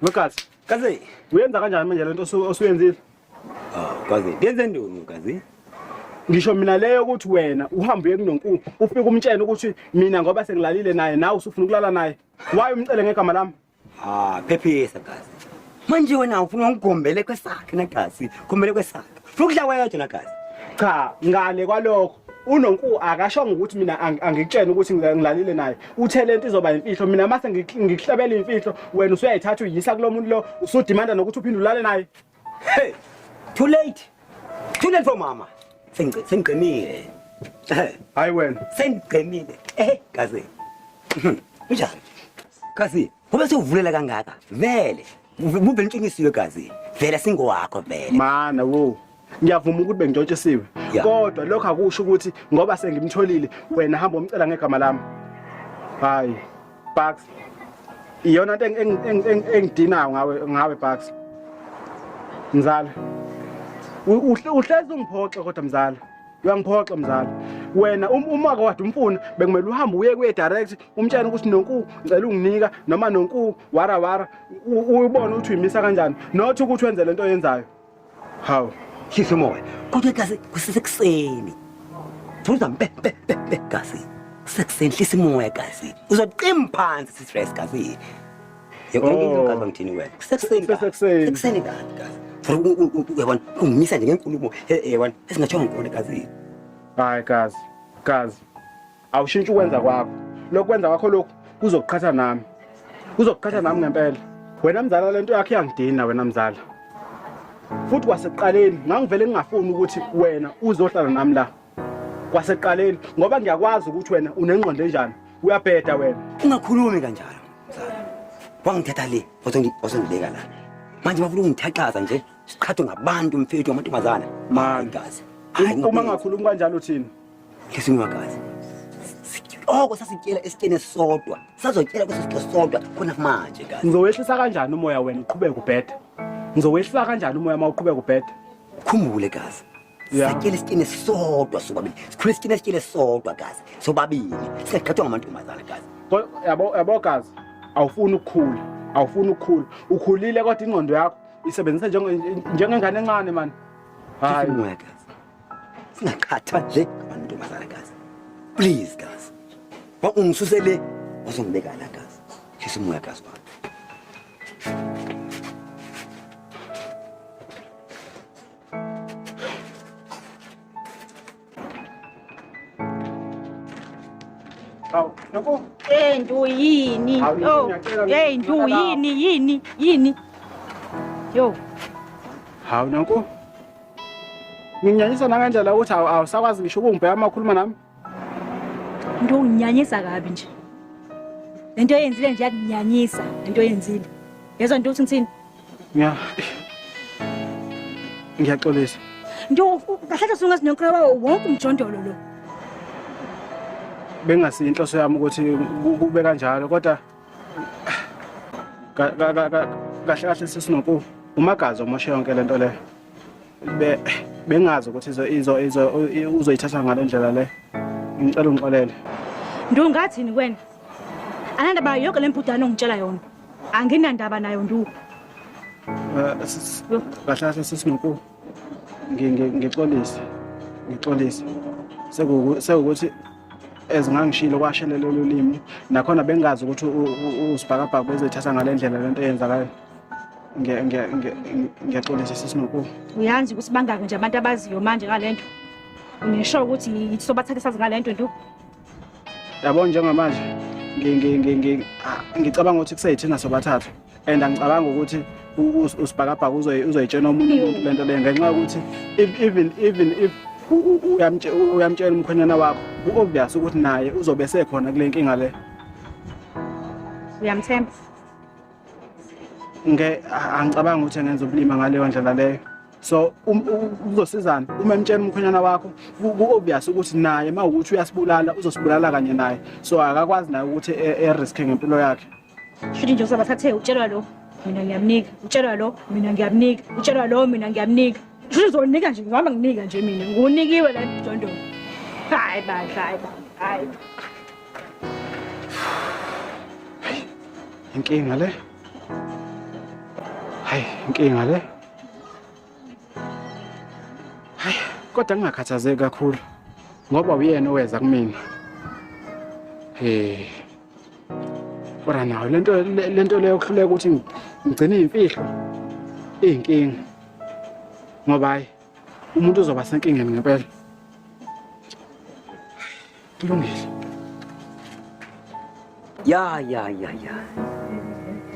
Mkazi, kazi uyenza kanjani manje lento osuyenzile? Ah, kazi ngenze ndoni kazi? Ngisho mina leyo ukuthi wena uhambe uye kunonkulu ufike umtshene ukuthi mina ngoba sengilalile naye nawe usufuna ukulala naye. Why umcele ngegama lami? Ah, phephisa gazi. Manje wena ufuna ungigombele kwesakhe negazi, gombele kwesakhe. Ufuna ukudla wedwa negazi. Cha, ngale kwalokho unonku akashongo ukuthi mina ang- angikutshene ukuthi ngila- ngilalile naye uthe lento izoba imfihlo mina mase ngik- ngikuhlabela imfihlo wena usuyayithatha uyisa kulo muntu lo usudimanda nokuthi uphinde ulale naye Hey, too late. Too late for mama. Sengqe sengqemile. Hayi wena. Sengqemile. Eh, kaze. Unjani? Kaze, ngoba sewuvulela kangaka. Vele. Muvele intshingisiwe kaze. Vele singowakho vele. Mana wo. ngiyavuma ukuthi bengitshotshisiwe kodwa lokho akusho ukuthi ngoba sengimtholile wena hamba umcela ngegama lami hayi Bucks iyona nto engidinayo ngawe ngawe Bucks mzala uhlezi ungiphoxe kodwa mzala uyangiphoxa mzala wena um-, uma kade umfuna bekumele uhambe uye kuye direct umtshana ukuthi nonku ngicela unginika noma nonku wara wara uyibona ukuthi uyimisa kanjani not ukuthi wenze lento oyenzayo Hawu. Khiphe moya. Kodwa igazi kusesekuseni. Thula mbe mbe mbe gazi. Sekuseni hlisa imoya gazi. Uzoqima phansi sistress gazi. Yebo ngizwe oh. gazi ngithini wena. Kusekuseni. Kusekuseni. Kusekuseni gazi. Yabona ungimisa nje ngenkulumo yabona esingatshongo ngikona gazi. Hayi gazi. Gazi. awushintshe ukwenza kwakho lokhu kwenza kwakho lokhu kuzokuqhatha nami kuzokuqhatha nami ngempela wena mzala le nto yakho iyangidina wena mzala futhi kwasekuqaleni ngangivele ngingafuni ukuthi wena uzohlala nami la kwasekuqaleni ngoba ngiyakwazi ukuthi wena unengqondo enjani uyabheda wena ungakhulumi kanjalo mzala wangithatha le wasongibeka la manje bafuna ungithaqaza nje siqhathwe ngabantu mfethu amantombazana magazi uma ngakhulumi kanjalo thina Listen wakazi. Oko sasityela esityeni sodwa. Sazotyela kweso sityo sodwa khona manje kazi. Ngizowehlisa kanjani umoya wena uqhubeke ubheda? Ngizowehlisa kanjani umoya uma uqhubeka ubheda? Khumbule kazi. Yeah. Satyela isityeni sodwa sobabili. Sikhule isityeni esityele sodwa kazi. Sobabili. Singagqathwa ngamantombazana kazi. Ko- Yabo yabo kazi. Awufuni ukukhula. Awufuni ukukhula. Ukhulile kodwa ingqondo yakho isebenzisa njenge- njengengane encane man. Hayi. Umoya kazi. singaqhatha nje abantu ntombazana kazi please kazi ungisuse le wazongibeka la kazi shisa umoya kazi baba Hawu, nokho. Eh, ntu yini? Oh. Hey, ntu yini, yini, yini? Yo. Hawu, nokho. Nginyanyisa nangendlela ukuthi awusakwazi ngisho ukungibheka uma ukhuluma nami. Into unginyanyisa kabi nje. Lento oyenzile nje yakunyanyisa lento oyenzile. Yezwa nto uthi ngithini? Ngiya. Ngiyaxolisa. Nto kahle sungazi nonkraba wonke umjondolo lo. Bengasi inhloso yami ukuthi kube kanjalo kodwa kahle kahle sesinoku umagazi omoshe yonke lento le be bengazi ukuthi izo izo izo uzoyithatha ngale ndlela le ngicela ungixolele ndu ngathini kwena anandaba yonke le mpudane ongitshela yona anginandaba nayo ndu eh, kahle kahle sesinoku ngixolise ngixolise sekuwukuthi ezingangishilo kwashelela ulimi nakhona bengazi ukuthi usibhakabhaka bezithatha ngale ndlela lento eyenzakayo ngiyaxolisa sisinoku uyazi ukuthi bangaki nje abantu abaziyo manje ngale nto ngisho ukuthi sobathathe sazi ngale nto nto yabo njengamanje ah, ngicabanga ukuthi kuseyithina sobathathu and angicabanga ukuthi usibhakabhaka uzoyitshena omunye umuntu le nto leyo ngenxa yokuthi even even if uyamtshela umkhwenyana wakho u-obvious ukuthi naye uzobe sekhona kule nkinga le uyamthemba nge angicabanga ukuthi engenza ubulima ngaleyo ndlela leyo so um, uzosizana uma emtshela umkhwenyana wakho ku-obvious ukuthi naye uma ukuthi uyasibulala uzosibulala kanye naye so akakwazi naye ukuthi e, e-risk-e ngempilo yakhe shuthi nje usaba thathe utshelwa lo mina ngiyamnika utshelwa lo mina ngiyamnika utshelwa lo mina ngiyamnika shuthi uzonika nje ngihamba nginika nje mina ngunikiwe la mjondolo hayi bandla hayi hayi inkinga le hayi inkinga le Hayi, kodwa ngingakhathazeki kakhulu ngoba uyena oweza kumina. Eh. Kodwa nayo lento lento leyo kuhluleka ukuthi ngigcine imfihlo inkinga. Ngoba hayi umuntu uzoba senkingeni ngempela. Kulungile. Ya ya ya ya.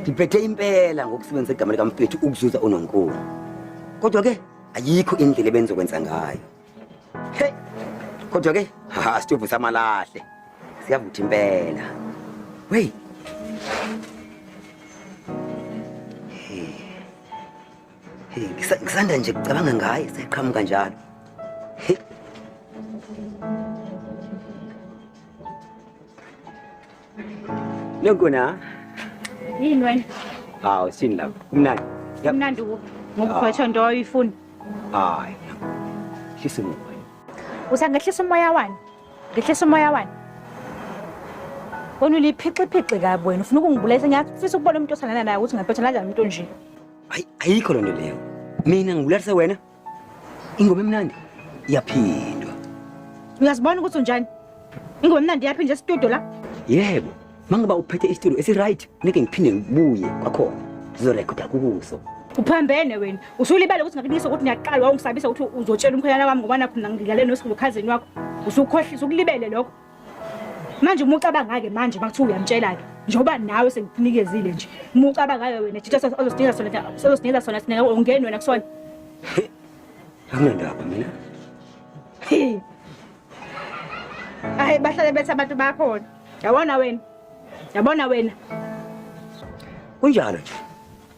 Ngiphethe impela ngokusebenzisa igama lika mfethu ukuzuza uNonkulu. Kodwa ke ayikho indlela ebenzokwenza ngayo. Hey. Kodwa ke ha sithubu samalahle. Siyavutha impela. Wey. Hey, ngisa- ngisanda nje kucabanga ngaye seqhamuka njalo. Hey. Nokona. Yini wena? Hawu sini lapha. Kumnandi. Yap. Kumnandi ukuphi? Ngokugwetshwa into oyifuna. Hayi. Hlisa umoya. Usa ngehlisa umoya wani? Ngehlisa umoya wani? Wena uliphixiphixe kabi wena. Ufuna ukungibulala. Ngiyafisa ukubona umuntu osanana naye ukuthi ngaphetha kanjani umuntu onje. Hayi ayikho lonto leyo. Mina ngikulalise wena. Ingoma emnandi iyaphindwa. Uyazibona ukuthi unjani? Ingoma emnandi iyaphindwa estudio la? Yebo. Mangiba uphethe istudio esi right, ngeke ngiphinde ngibuye kwakhona. Sizorekoda kuzo. Uphambene wena. Usulibele ukuthi ngakunikisa ukuthi ngiyaqala wawungisabisa ukuthi uzotshela umkhwenyana wami ngoba nakho ngilalele nosikhukhazeni wakho. Usukhohlisa ukulibele lokho. manje uma ucabanga-ke manje uma kuthiwa uyamtshela-ke njengoba nawe sengikunikezile nje uma ucabanga-ke wena thitha ozosinikeza sona ozosinikeza sona sina ungeni wena kusona angendaba mina hayi bahlale bethi abantu bakhona yabona wena yabona wena kunjalo nje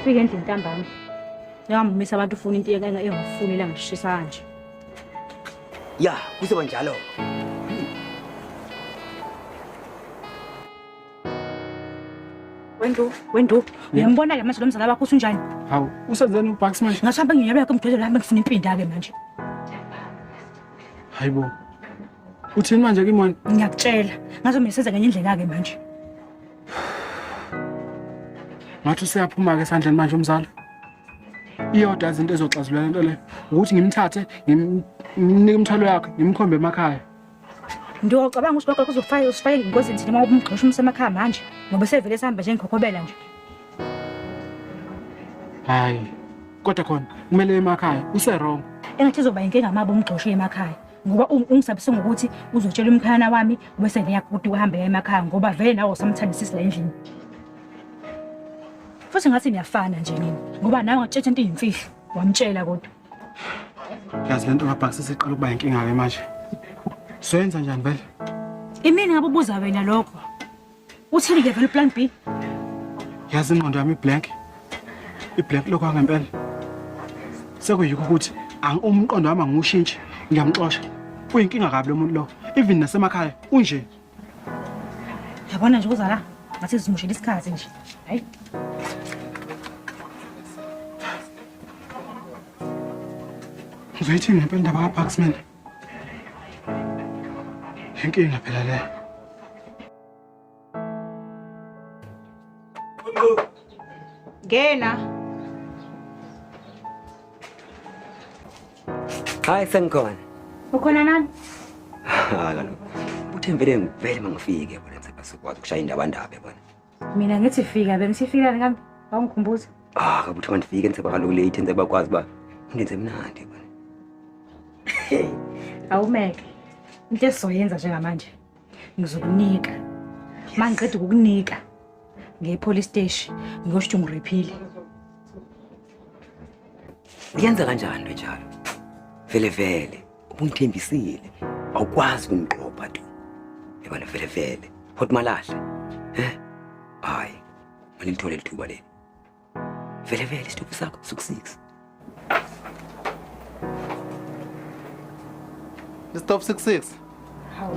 Ufike endlini ntambama. Ngamumisa abantu ufuna into engeke engafuni la ngishisa kanje. Ya, kuzoba njalo. Wendu, wendu, uyambona ke manje lo mzala wakho usunjani? Hawu, usenzeni uBucks manje? Ngasihamba nginyabela ke mdodolo wami ngifuna impinda ke manje. Hayibo. Uthini manje kimona? Ngiyakutshela. Ngazomesenza ngenye indlela ke manje. ngathi useyaphuma-ke esandleni manje umzala iyodwa izinto ezoxazulula lento leyo ukuthi ngimthathe ngimnike umthwalo yakhe ngimkhombe emakhaya ndiyocabanga ukuthi lokho kuzofaka usifake engozini thina uma ubumgxosha umsa emakhaya manje ngoba sevele esihamba njengikhokhobela nje hayi kodwa khona kumele emakhaya userong engathi izoba yinkinga mabo umgxoshe emakhaya ngoba ungisabise ngokuthi uzotshela umkhayana wami bese neyakhuti uhambe ya emakhaya ngoba vele nawe usamthandisisi la endlini futhi ngathi niyafana nje nini ngoba nawe ngatshetsha into iyimfihlo wamtshela kodwa yazi le nto ngabhakisa siqala ukuba yinkinga-ke manje soyenza njani vele imini ngabe ubuza wena lokho Uthini ke vele plan B? Yazi ingqondo yami iblank. Iblank lokho angempela. Sekuyikho ukuthi umqondo wami angiwushintshe, ngiyamxosha. Uyinkinga kabi lo muntu lo. Even nasemakhaya unje. Yabona nje uzala ngathi sizimushela isikhathi nje. Hayi. Uzoyithini ngempela indaba kaPaxman? Inkinga phela le. Ngena. Hayi sengikhona. Ukhona nani? Hayi kaloku. Uthembele ngivele mangifike bona ngisebasukwazi ukushaya indaba ndaba bona. mina ngithi fika bengisifikani kambe awungikhumbuza ah kabuthi mandifike ngize kwakaloku late ngize bakwazi uba ngenze mnandi awumeke into esizoyenza njengamanje ngizokunika uma ngiqeda ukukunika ngepolice steshi ngiyosho ukuthi ungiriphile uyenza kanjani lo njalo vele vele Ubungithembisile. Awukwazi ukungiqopha tu. Yabona vele vele. Hot malahle. Eh? Hayi. Mina ngithole lithuba leli. Vele vele isithupa sakho suku 6. Stop 66. Hawu.